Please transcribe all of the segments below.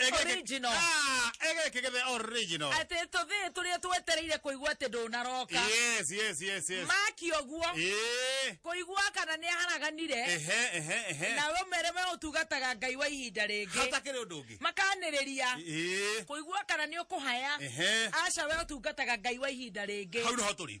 Egeke- Original. Ah, egekegebe original atĩ tũthĩ tũrĩa twetereire kũigua atĩ ndũnaroka yes yes yes yes maki ũguo Eh, kũigua kana nĩ aharaganire ehe ehe ehe na we mere we ũtungataga ngai wa ihinda rĩngĩ hatakĩrĩ ũndũ ũngĩ makanĩrĩria Eh, kũigua kana nĩ ũkũhaya ehe aca we ũtungataga ngai wa ihinda rĩngĩ hau nĩho tũrĩ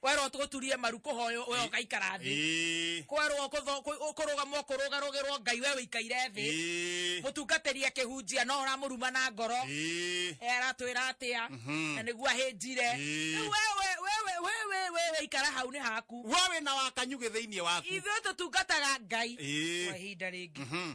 kwerwo tũturie maru kũhoyo we ũgaikara thĩ Ĩĩ. kwerwo kũtho- kũ- kũrũgamwo kũrũgarũgĩrwo ngai we wĩikaire thĩ Ĩĩ. mũtungatĩri akĩhunjia no ũramũruma na ngoro Ĩĩ. Eh, aratwĩra atĩa na nĩguo ahĩnjire Ĩĩ. Rĩu wewe wewe wewe wewe ikara hau nĩ haku We wĩna wakanyugĩ thĩinĩ waku. ithuĩ tũtungataga ngai Ĩĩ. kwa ihinda rĩngĩ Mhm.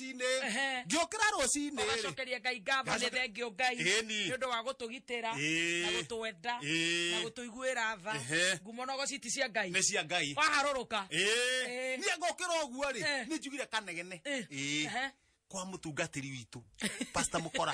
rũcinĩ Ehe. ngĩũkĩra rũcinĩ rĩ ũgacokeria ngai ngamba nĩ Ngacoke- thengio ngai Ĩni. nĩ ũndũ wa gũtũgitĩra Ĩĩ. na gũtwenda Ĩĩ. na gũtũiguĩra tha Ehe. ngumo na ũgociti cia ngai nĩ cia ngai waharũrũka Ĩĩ. Ĩĩ. niĩ ngũkĩra ũguo rĩ Eh. nĩ njugire kanegene Eh. Ĩĩ. Ehe. kwa mũtungatĩri witũ pasta mũkora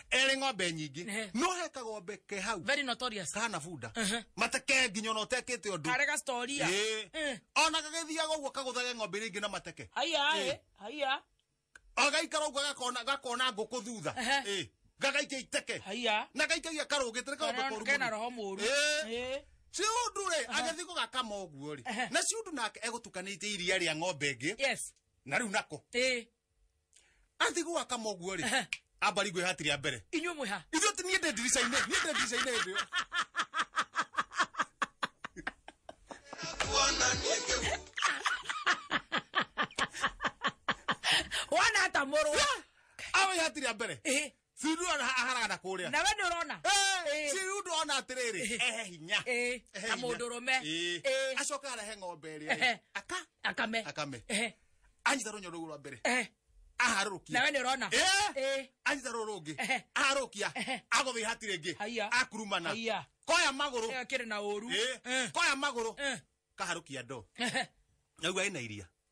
erĩ ng'ombe nyingĩ Ehe. no he kagombe ke hau very notorious kana bunda Ehe. mateke nginya ona ũtekĩte ũndũ kare ga story ya Ĩĩ. Eh. ona gagĩthiaga ũguo kagũthage ng'ombe iria ingĩ na mateke haya Eh. eh, haya agaikara ũguo gakona gakona ngũkũ thutha Ehe. Ĩĩ. gagaikia iteke haya na gaikagia karũgĩte nĩ kaũndũ Kana- koru kena mũno. roho mũru Ĩĩ. Eh. ciundu rĩ agĩthiĩ gũgakama ũguo rĩ Ehe. na ciundu nake egũtukanĩtie iria rĩa ng'ombe ĩngĩ yes na rĩu nako Eh. athi gwaka moguo rĩ Ehe. amba ringwe hati rĩa mbere inyuĩ mwĩ ha ithuĩ ti niĩ ndĩ ndirica-inĩ niĩ ndĩ ndirica-inĩ hĩndĩ ĩyo wona ata mũrũ awe hati rĩa mbere Ĩhĩ. si ndurona ha- aharagana kũrĩa nawe nä å rona Eh. si rĩu ndona atĩrĩrĩ Eh. ehe hinya Eh. Ehe Na hinya. mũndũrũme. Eh. Eh. acoka arehe ng'ombe Ehe. ĩrĩa aka akame Akame. Ehe, anyita rũnyo rũu rwa mbere ehe. aharũrũkia nawe nä å rona Eh. Eh. anyita rũu rũngĩ Ehe. aharũkia Ehe. agũthĩ ihati rĩngĩ Haiya. akurumana Haiya. koya magũrũ Ĩyo ĩkĩrĩ na å ru Eh. koya magũrũ kaharũkia ndo naigua ĩna iria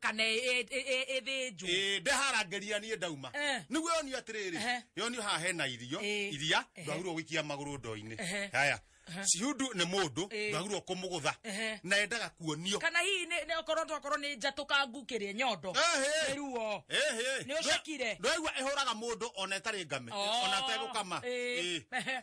kana ĩ- ĩ- ĩ- ĩthĩnjwo Ĩĩ, ndeharangĩria niĩ ndauma Eh. nĩguo yonio atĩrĩrĩ Ehe. yonio haha hena irio Ĩĩ. iria Ehe. ndwagirwo gũikia magũrũ ndoo-inĩ Ehe. haya cihudu nĩ mũndũ Ĩĩ. ndwagirwo kũmũgũtha Ehe. na endaga kuonio kana hihi nĩ- nĩ okorwo tokorwo nĩ njatũkangu kĩrĩa nyondo Ehe. nĩ ruo Ehe. Nĩ ũcekire? ndwaigua ĩhũraga mũndũ ona ĩtarĩ ngame Oh. ona tegũkama Ĩĩ. Ĩĩ. Ehe.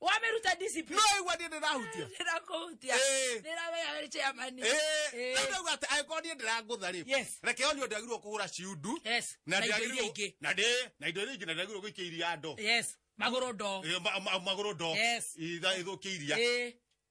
wameruta discipline no igua niä ndä rahutia ndĩrakũhutia Ĩĩ. ndĩramenya wĩ chairman Ĩĩ. Ĩĩ. Rĩu ndauga atĩ angĩkorwo niĩ ndĩrangũtha rĩ Yes. reke onio ndagirwo kå hå ra ciundu Yes. Na indo iria ingĩ. ingä na ndä na indo iria ingä na ndagirwo gå ikia iria ndo yes magũrũ ndo magå rå ndo Yes. ithå kä iria Ĩĩ.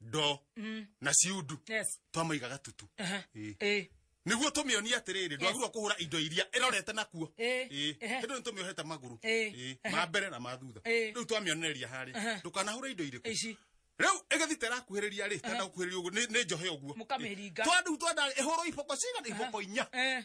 ndoo Mm. na ciundu Yes. twamaiga gatutu Aha. Ĩĩ. Ĩĩ. niguo tũmĩonie atĩrĩrĩ ndwagirwo kũhũra indo iria ĩrorete nakuo Ĩĩ. Ĩĩ. Ĩhĩ. hĩndũ nĩ tũmĩohete magũrũ Ĩĩ. Ĩĩ. Aha. ma mbere na ma thutha Ĩĩ. rĩu twamĩonereria Aha. harĩ ndũkanahũra indo irĩkũ Ici. rĩu ĩgĩthi terakuhĩrĩria rĩ tenda gũkuhĩrĩria ũguo nĩ nĩ njohe ũguo Mũkamĩringa. twandu twenda ĩhũrwo iboko cigana iboko inya Eh.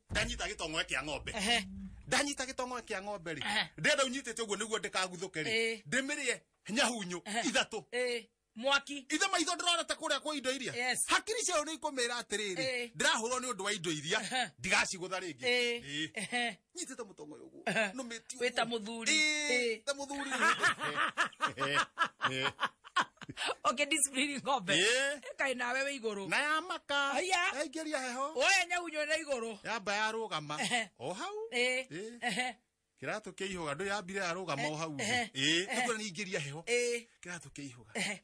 ndanyita gĩtongoe kĩa ng'ombe Ehe. ndanyita gĩtongoe kĩa ng'ombe rĩ Ehe. ndenda ũnyitĩte ũguo nĩguo ndĩkaguthũke rĩ Ĩĩ. ndĩmĩrĩe nyahunyu Ehe. ithatũ Eh, mwaki ithe maitho ndĩrorete kũrĩa kwa indo iria Yes. hakiri ciao nĩ ikũmĩra atĩrĩrĩ Ĩĩ. ndĩrahũrwo nĩ ũndũ wa indo iria Ehe. ndigacigũtha rĩngĩ Eh, Ĩĩ. ehe. nyitĩte mũtongoe ũguo nĩndĩrĩtwo nũmĩtio wĩta mũthuri Ĩĩ, ta mũthuri okay discipline ng'ombe Ĩĩ. kaĩ nawe wĩ igũrũ na ya maka Aya. yaingĩria heho oya nyaunywe na igũrũ yamba yarũgama Ehe. o hau Ĩĩ, Ĩĩ. ehe, kĩratũ kĩa ihũga ndũ yambire yarũgama o hau Ehe. ĩĩ nĩkuo nĩingĩria heho ĩĩ, kĩratũ kĩa ihũga ehe.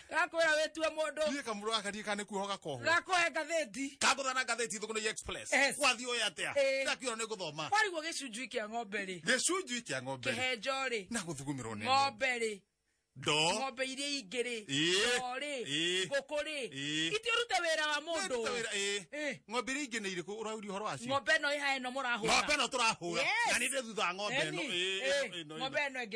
gakwĩra wĩtue mũndũ niä kamå rå gaka ndiä kana nä kuoho gakoho gakũhe ngathĩti kagåthana ngathä ti thå kå nä express Yes. wathiä å yä atä a Eh. ndakiona nä gå thoma wariguo gĩcunjui kĩa ng'ombe rĩ gä cunjui kä a ng'ombe kĩhenjo rĩ na gå thugumä rwo nä ng'ombe rĩ ndo ng'ombe iria ingĩ rĩ Ĩĩ. ndoo rĩ Ĩĩ. ngũkũ rĩ Ĩĩ. ithiĩ ũrute wĩra wa mũndũ Eh. ng'ombe iria ingä nä irä kå å rauri å horo wacio ng'ombe ĩno ĩha ĩno mũrahũra ng'ombe ĩno tå rahå ra Yes. na nä ndä thutha wa ng'ombe ĩno Eni, Ĩĩ, eh, ĩno, ĩno, ng'ombe ĩno. ĩno ĩngĩ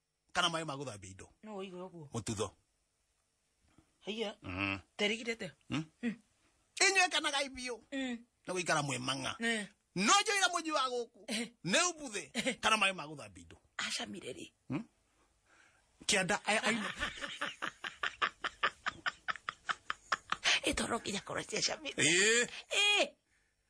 kana maĩ ma gũthambia indo no ũige ũguo mũtutho haiya Mm. terigirete Mm. inyuĩ kanagai biũ Mm. nĩ gũikara mwĩ mang'a Eh, no njũira mũnyi wa gũkũ Eh. nĩ ũbuthĩ kana maĩ ma gũthambia indo acamire rĩ kĩanda aya aina ĩtoro nginya korwo ciacamire Ĩĩ. Eh,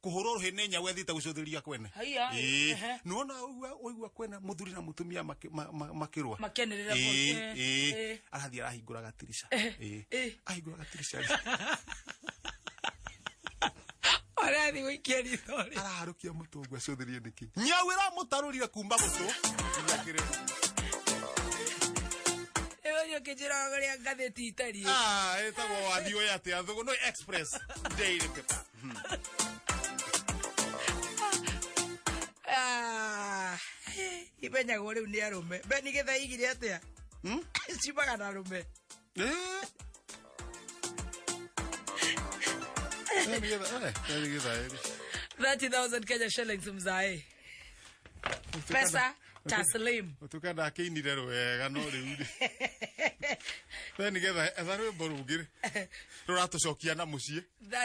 kuhurwo ruhi ni nyau ethiite gucuthiriria kwene Haiya, Ĩĩ. ehe. nuona uigua uigua kwena muthuri na mutumia maki- ma- ma- makirwa Makianĩrĩra Ĩĩ, bote. ĩĩ. Ĩĩ. arathii arahingura gatirisha Ĩĩ. Ĩĩ. ahingura gatirisha Arathi gũikia ritho rĩ. araharukia mutungu acuthiririe niki nyau iramutarurire kumba gutu nginya kirima Rĩu ũyũ ũkĩnjĩraga ũrĩa ngathĩti itariĩ. ah etagwo wathi uyu atia thugu no express daily paper Ah, imenyagwo rä u nä arå me beni gä thaigire atä a Hmm? cimaga na arå me Eh. Eh, nĩgetha- eh, eh, nĩgetha, eh. 30000 kenya shillings mzae pesa taslim Ũtuĩka ndakĩinire rwega no rĩu rĩ we nĩgetha etha rwĩmbo rũngĩ rĩ rũratũcokia na mũciĩ That